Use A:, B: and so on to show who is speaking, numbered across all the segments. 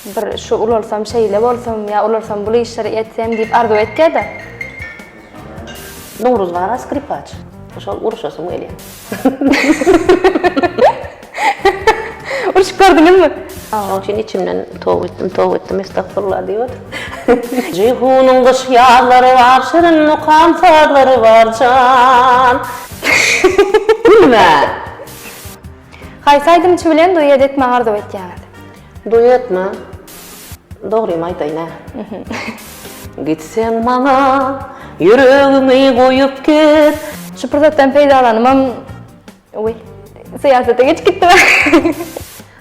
A: Bir şu ulalsam, şeýle bolsam, ýa ulalsam, bul işleri etsem diýip arzuw etýär-de.
B: Nowruz bar-a skripaç. Şol uruşasym gelýär.
A: Urşup gördüňizmi? Şonuň üçin
B: içimden toba etdim, toba etdim, estagfurullah diýip otyryn. Jeýhunyň gyş-ýazlary bar, şirin mukam sazlary bar jan. Gülme!
A: Haýsy aýdymçy bilen duet etmegi arzuw etýäňiz? Duetmi?
B: Dogrymy aýdaýyn-a. Gitseň maňa ýüregiňi goýup git. Şu pursatdan
A: peýdalanybam, we syýasata geçip gitdim-ä.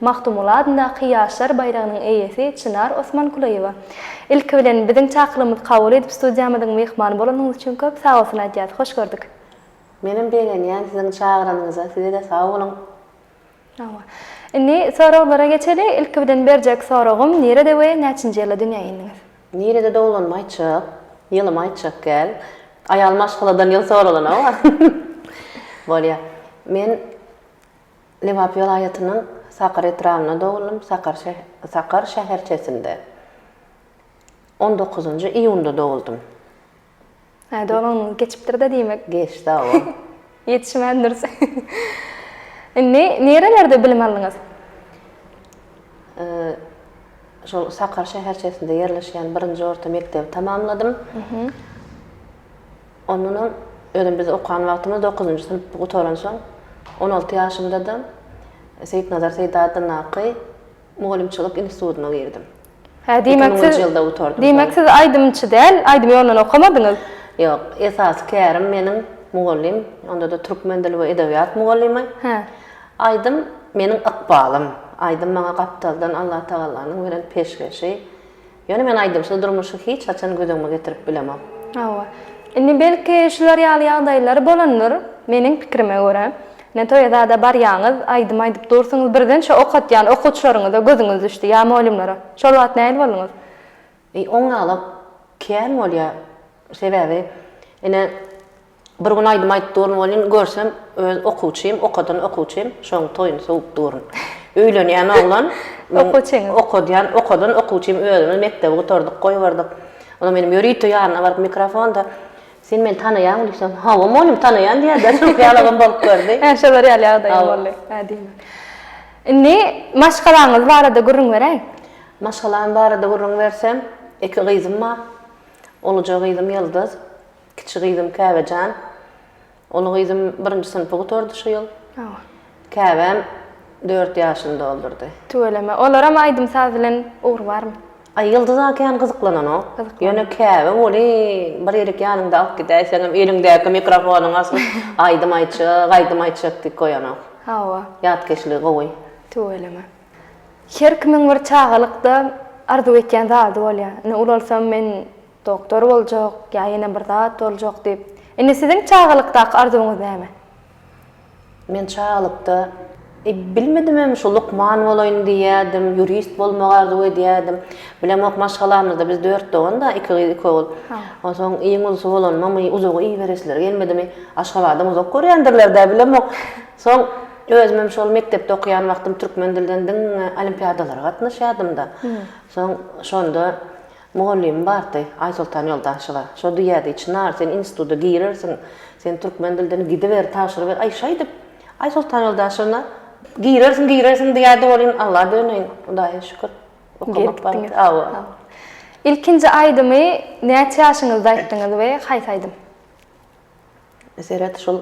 A: Magtymguly adyndaky Ýaşlar baýragynyň eýesi Çynar Osmankulyýewa, Ilki bilen, biziň çakylygymyzy kabul edip, studiýamyzyň myhmany bolanyňyz üçin köp sagbolsun aýdýas. Hoş gördük. Menem
B: begenýän siziň çagyranyňyza, size-de sag boluň. Hawa. Indi
A: soraglara geçeli. Ilki bilen berjek soragym, nirede we näçinji ýylda dünýä indiňiz? Nirede dogulanymy
B: aýtjak, ýylymy aýtjak däl. Aýal maşgaladan ýyl soralana-ow. Bolýa. Men. Lebap welaýatynyň Sakar etrabynda dogluldym, Sakar şäherçesinde on dokuzynjy iýunda dogluldym. Hä,
A: doglangyňyz geçipdir-de diýmek. Geçdi, hawa.
B: Ýetişmändiris.
A: Indi nirelerde bilim aldyňyz?
B: Şol Sakar şäherçesinde ýerleşýän birinji orta mekdebi tamamladym. Ondanam özüm biz okan wagtymyz dokuzynjy synp gutaransoň, on alty ýaşymda-da Seýitnazar Seýda adyndaky mugallymçylyk institutyna girdim. Hä, diýmek siz,
A: diýmek siz aýdymçy däl, aýdym ýolundan okamadyňyz? Ýok,
B: esasy kärim meniň mugallym, onda-da türkmen dili we edebiýat mugallymy. Hä. Aýdym meniň ykbalym. Aýdym maňa gapdaldan Allatagallanyň beren peşgeşi. Ýöne men aýdymsyz durmuşy hiç haçan göz öňüme getirip bilemok. Hawa. Indi
A: belki şular ýaly ýagdaýlar bolandyr. Meniň pikirime görä, ine toýa zada barýaňyz, aýdym aýdyp dursuňyz, birden şo okatýan okuwçylaryňyza gözüňiz düşdi ýa molümlere. Şol wagt nähili bolduňyz? Eý, oňňalak
B: kän bolýar. Sebäbi ine, Bir gün aýdym aýdyp durun welin, görsem öz okuwçym, okadan okuwçym şoň toýuny sowup durun. Öýlenýän oglan, meň Okuwçyňyz. okadýan, okadan okuwçym özümiz mekdebi gutardyk, goýberdik. Ol menem ýörite ýanyna baryp mikrofonda, Sen meni tanaýaňmy diýsem, Hawa mugallym tanaýan diýerdi, şol ýalagam bolup gördi. Hä şolar ýaly ýagdaýym Hawa.
A: boldy. Hä diýme. Indi maşgalaňyz barada gürrüň beräý. Maşgalam
B: barada gürrüň bersem, iki gyzym bar. Uluja gyzym Ýyldyz. Kiçi gyzym Käbejan. Uly gyzym birinji synpy gutardy şu ýyl. Käbäm dört ýaşyny doldurdy. Tüweleme. Olaram
A: aýdym-saz bilen ugry barmy? Aý, Ýyldyza kän
B: gyzyklananok. Ýöne Käbe welin, bir ýerik ýanyňda alyp gidäýseňem, eliňdäki mikrofonyň asyp, aýdym aýtjak, aýdym aýtjak diýip goýanok. Hawa. Ýatkeşligi gowy. Tüweleme.
A: Her kimiň bir çagalykda arzuw etýän zady bolýar. Ine, ulalsam men Doktor boljak, ýa ýene bir zat boljak diýip. Indi siziň çagalykdaky arzuwyňyz näme?
B: Men çagalykda, e, bilmedimem, şu lukman bolaýyn diýýärdim, ýurist bolmagy arzuw edýärdim. Bilemok, maşgalamyzda biz dört dogan-da, iki gyz, iki ogul. Onsoň iň ulusy bolanymamy, uzaga iberesleri gelmedimi, Aşgabatdan uzak görýändirler-dä, bilemok. Soň özümem şol mekdepde okaýan wagtym türkmen dilden diňe olimpiadalara gatnaşýardym-da. Soň şonda. Mugallymym bardy, Aýsoltan Ýoldaşewa. Şo diýýärdi, Çynar, sen instituta girersiň, sen türkmen dilden gidiber, tabşyryber. Aý, şeýdip, Aýsoltan Ýoldaşewna, Girersiň, girersiň diýýärdi, welin, Alla döneýin, Hudaýa şükür, okamak bardy. Hawa. Ilkinji aýdymy näçe ýaşyňyzda aýtdyňyz we haýsy aýdym? Seret, şol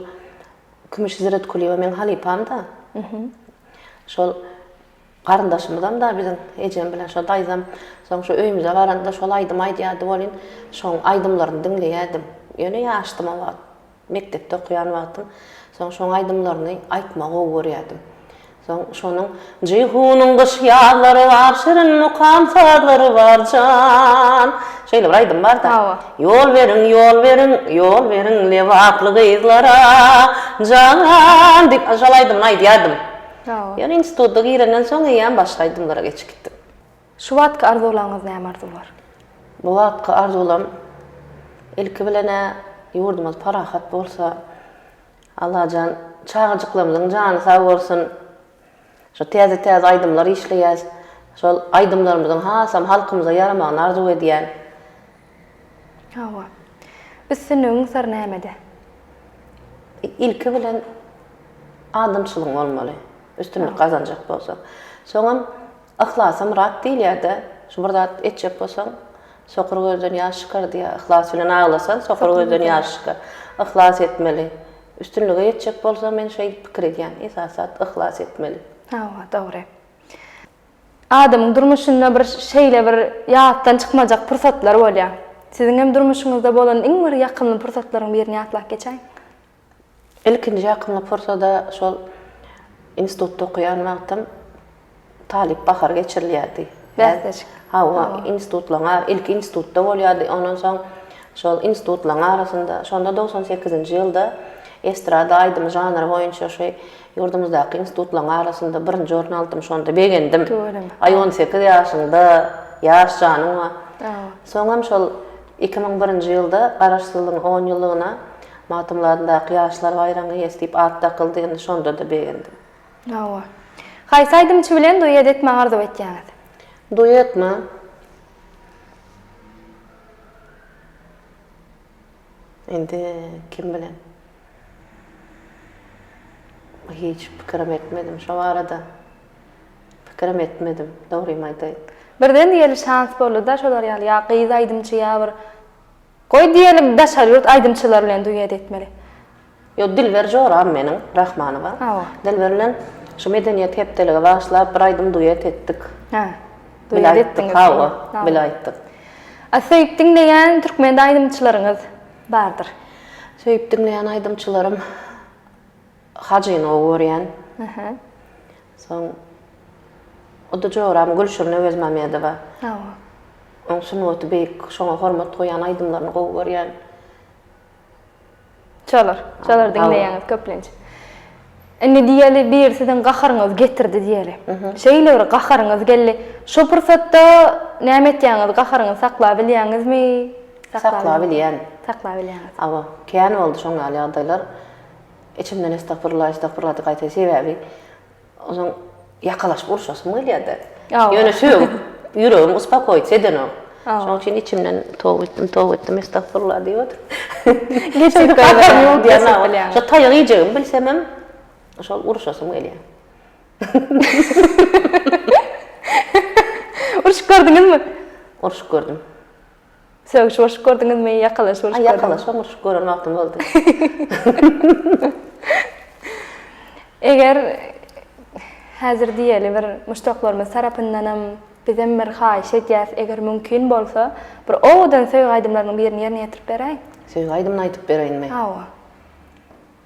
B: Kümüş Hizretkulyýewa meň halypam-da. Şol Garyndaşymyzam-da biziň ejem bilen şo daýzam, soň şu öýümize baranda şol aýdym aýdýardy welin, şoň aýdymlaryny diňleýärdim. Ýöne ýaşdym o wagt. Mekdepde okaýan wagtym. Soň şoň aýdymlaryny aýtmagy gowy görýärdim. Soň şonuň Jeýhunyň gyş ýazlary bar, şirin mukam sazlary bar jan. Şeýle bir aýdym bar-da. Hawa. Ýol beriň, ýol beriň, ýol beriň lebaply gyzlara jan diýip, şol aýdymyny aýdýardym. Ýöne instituta girenden soň eýýäm başga aýdymlara geçip gitdim. Şu wagtky
A: arzuwlaryňyz näme arzuwlar? Bu wagtky
B: arzuwlarym ilki bilen-ä ýurdumyz parahat bolsa, Allajan çagajyklarymyzyň jany sag bolsun. Şu täze-täze aýdymlar işleýäs. Şol aýdymlarymyzyň hasam halkymyza ýaramagyny arzuw edýän.
A: Hawa. Üstünligiň syry nämede? Ilki
B: bilen adamçylygyň bolmaly. Üstünlik gazanjak bolsaň. Soňam yhlasy myrat diýilýär-de. Şu bir zat etjek bolsaň, sokur gözden ýaş çykar diýýär. Yhlas bilen aglasaň, sokur gözden ýaş çykar. Yhlas etmeli. Üstünlige ýetjek bolsaň, men şeýdip pikir edýän. Esasy zat yhlas etmeli. Hawa, dogry.
A: Adamyň durmuşynda bir şeýle bir ýatdan çykmajak pursatlar bolýar. Siziň hem durmuşyňyzda bolan iň bir ýakymly pursatlaryň birini ýatlap geçäýiň.
B: Ilkinji ýakymly pursada şol institutda okaýan wagtym talyp bahary geçirilýärdi. Bäsleşik. Hawa, institutlaryň, ilki institutda bolýardy, ondan soň şol institutlaryň arasynda, şonda dogsan sekizinji ýylda estrada aýdymy žanry boýunça şu Ýurdumyzdaky institutlaryň arasynda birinji orun aldym, şonda begendim. Tüweleme. Aý on sekiz ýaşyňda, ýaş janyň a. Awa. Soňam şol iki müň birinji ýylda Garaşsyzlygyň on ýyllygyna Magtymguly adyndaky Ýaşlar baýragynyň eýesi diýip at dakyldy, indi şonda-da begendim. Awa.
A: Haýsy aýdymçy bilen duet etmegi arzuw etýäňiz? Duetmi?
B: Indi kim bilen? Hiç pikirim etmedim şo barada. Pikirim etmedim, dogrymy aýdaýyn. Birden diýeli
A: şans boldy-da şolar ýaly ýa gyz aýdymçy ýa bir Goý diýeli daşary ýurt aýdymçylary bilen duet etmeli. Ýok
B: Dilber joram meniň Rahmanowa. Hawa. Dilber bilen şu medeniýet hepdelige bagyşlap bir aýdym duet etdik. Hä. Duet etdiňiz. Hawa, bile aýtdyk. A söýüp
A: diňleýän türkmen aýdymçylaryňyz? Bardyr. Söýüp
B: diňleýän aýdymçylarym Hajyny gowy görýän. Aha. Soň o-da joram Gülşirin Öwezmamedowa. Hawa. Oň sungaty beýik, şoňa hormat goýýan aýdymlaryny gowy görýän. Şolar, şolary diňleýäňiz köplenç. Indi diýeli biri siziň gaharyňyzy getirdi diýeli. Şeýle bir gaharyňyz geldi. Şo pursatda näme etýäňiz? Gaharyňyzy saklap bilýäňizmi? Saklap bilýän. Saklap bilýäňiz. Hawa, kän boldy şoň ýaly ýagdaýlar. Içimden estagfurullah, estagfurullah diýip gaýtaýsy sebäbi, ozan, Ýakalaşyp urşasym gelýärdi. Ýöne sögüp, ýüregim uspokoic edenok. Şonuň üçin içimden toba etdim, toba etdim, estagfurullah diýip oturyp. Geçip gaharym ýok diýip bilýäňmi? Şo taýak iýjegimi bilsemem, şol uruşasym gelýär.
A: Urşup gördüňizmi? Urşup gördüm.
B: Sögüş
A: urşup gördüňizmi, ýakalaşyp urşup gördüňizmi? Ýakalaşyp urşup gören wagtym
B: boldy.
A: Eger häzir diýeli bir muşdaklarymyz tarapyndanam bizem bir haýyş edýäs, eger mümkin bolsa, bir owadan söýgi aýdymlarynyň birini ýerine ýetirip beräýiň. Söýgi aýdymyny aýdyp
B: bereýinmi? Hawa.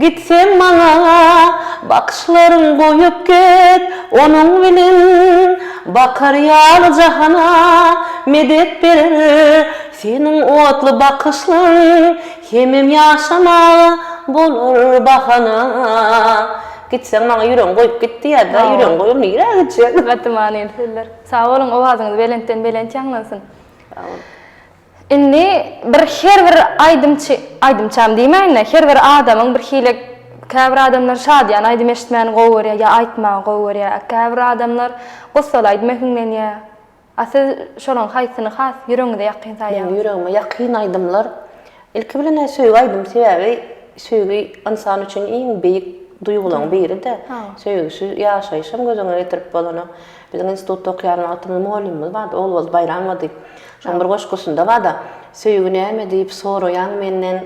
B: Gitsem maňa bakyşlaryn goýup git Onuň bilen bakar ýaly jahana medet berer Seniň otly bakyşlaryň hemem ýaşamaga bolar bahana Gitseň maňa ýüregiň goýup git diýýär da ýüregiň goýur nirä gitjek. Gaty manyly sözler.
A: Sag boluň owazyňyz belentden belent ýaňlansyn. Sag boluň. Indi bir her bir aýdymçy, aýdymçam diýmäýin-de, her bir adamyň bir hili, käbir adamlar şadyýan aýdym eşitmäni gowy görýär ýa aýtmagy gowy görýär, a käbir adamlar gussaly aýdym ähňleňýär. A siz şolaryň haýsyny has ýüregiňize ýakyn Meniň saýýaňyz? ýüregime ýakyn
B: aýdymlar, ilki bilen-ä söýgi aýdymy, sebäbi söýgi ynsan üçin iň beýik duýgularyň biri-de. Söýgüsiz ýaşaýyşam göz öňüne getirip bolanok. Biziň institutda okýan wagtymda mugallymymyz bardy, Ogulgyz Baýramowa diýip. Şonuň bir goşgusynda bar-da, Söýgi näme diýip soraýaň menden,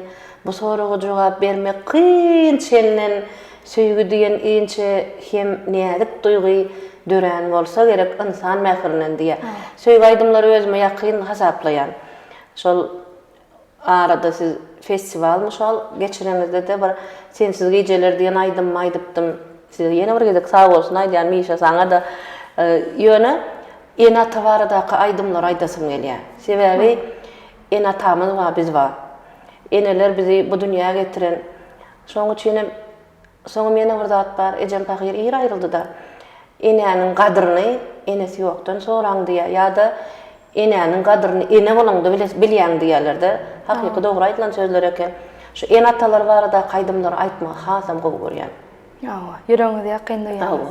B: Bu soraga jogap bermek kyn çenden, Söýgi diýen inçe hem näzik duýgy, Dörän bolsa gerek ynsan mährinden diýýär. Söýgi aýdymlary özüme ýakyn hasaplaýan. Şol. arada siz festiwal mysal geçireňizde-de bir Sensiz gijeler diýen aýdymymy aýdypdym. Size ýene bir gezek sagbolsun aýdýan Mişa saňa-da. Ýöne ene-ata baradaky aýdymlary aýdasym gelýär. Sebäbi ene-atamyz bar, biz bar. Eneler bizi bu dünýä getiren. Şonuň üçin hem Soňam ýene bir zat bar, ejem pahyr ir aýryldy-da, Enäniň gadyryny enesi ýokdan soraň diýýär ýa-da Enäniň gadyryny ene bolaňda bile bilýäň diýýärler-de. Hakyky dogry aýdylan sözler eken. Şu ene-atalar baradaky aýdymlary aýtmagy hasam gowy görýän. Hawa,
A: ýüregiňize ýakyn duýýan. Hawa.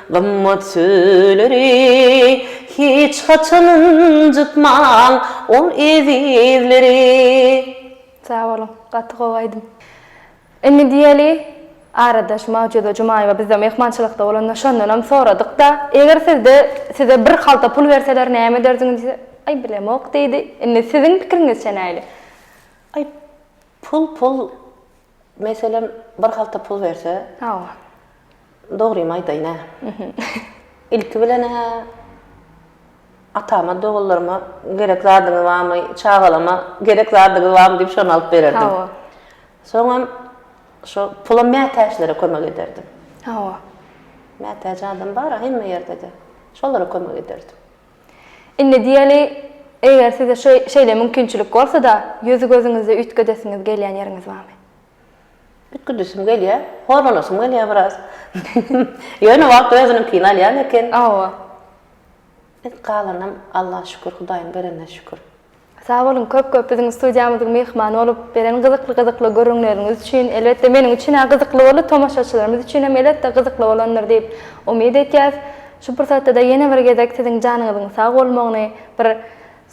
B: Gymmat sözleri hiç haçan ynjytmaň ol ezizleri.
A: Sag boluň, gaty gowy aýdym. Indi diýeli, aradaş Magtjuda Jumaýewa bizde myhmançylykda bolanda şondanam soradyk-da, eger sizde size bir halta pul berseler näme ederdiňiz diýse, aý bilemok diýdi, indi siziň pikiriňizçe näli? Aý,
B: pul pul, Meselem, bir halta pul berse, Hawa. dogrymy aýdaýyn-ä, ilki bilen-ä atama, doganlaryma gerek zadyňyz barmy, çagalama gerek zadyňyz barmy diýip, şony alyp bererdim. Hawa. Soňam şo pulam mätäçlere kömek ederdim. Hawa. Mätäç adam bar-a hemme ýerde-de. Şolara kömek ederdim. Indi
A: diýeli, eger size şeýle mümkinçilik bolsa-da, ýüzi-gözüňizi üýtgedesiňiz gelýän ýeriňiz barmy?
B: Üýtgedesim gelýär. Horalasym gelýär biraz. Ýöne wagt özüniňkini alýan eken. Hawa. Galanam Alla şükür, Hudaýyň berenine şükür. Sag boluň
A: köp köp biziň studiýamyzyň myhmany bolup beren gyzykly gyzykly gürrüňleriňiz üçin elbetde meniň üçin-ä gyzykly boldy tomaşaçylarymyz üçinem elbetde gyzykly bolandyr diýip umyt etýäs şu pursatda-da ýene bir gezek siziň janyňyzyň sag bolmagyny bir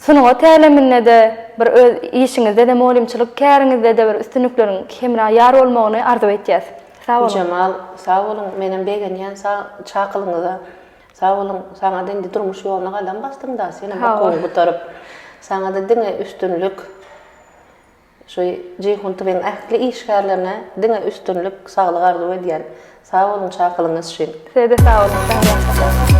A: sungat äleminde-de bir öz işiňizde-de mugallymçylyk käriňizde-de bir üstünlikleriň hemra ýar bolmagyny arzuw etýäs sag boluň. Güljemal sag boluň
B: menem begenýän sag çakylygyňyza Sag boluň, saňada indi durmuş ýoluna gadam basdyň da, senem okuwyňy gutaryp, saňada diňe üstünlik, şu Jeýhun TV'niň ähli işgärlerine diňe üstünlik, saglyk arzuw edýän. Sag boluň çakylygyňyz üçin.
A: Sizede
B: sag boluň Şahyran
A: hanym.